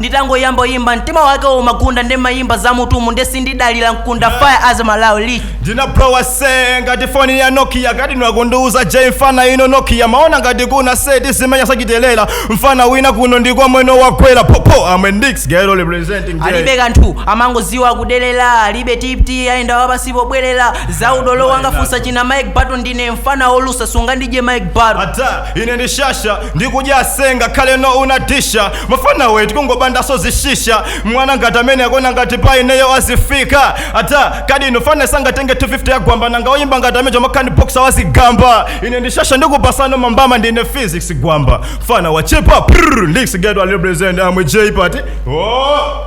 nditangoyamba kuyimba mtima wake umagunda ndimayimba za m'mutumu nde sindidalira mkunda fire as malawi league ndinablowa se ngati foni ya nokia kati nwakundiuza j mfana ino nokia maona ngati kuna se tizimenya sachitelera mfana wina kuno ndikwa mweno wakwera popo amwe ndix ghetto representing J. alibe kanthu amangoziwa kudelera alibe tipti ayenda wapansi pobwerera za udolo wangafunsa china mike bato ndine mfana olusa sungandidye mike bato ata ine ndishasha ndikudya se ngakhale no unatisha mafana wetu kungobandaso zishisha mwana ngati amene akona ngati pa ineyo azifika ata kadi iwe fana sangatenge 250 yagwamba nanga oyimba ngati ame Jomakhani boxer wazigamba ine ndishasha ndikupasano mambama ndine physics gwamba fana wachepa prr leaks ghetto represent amwe j party oh.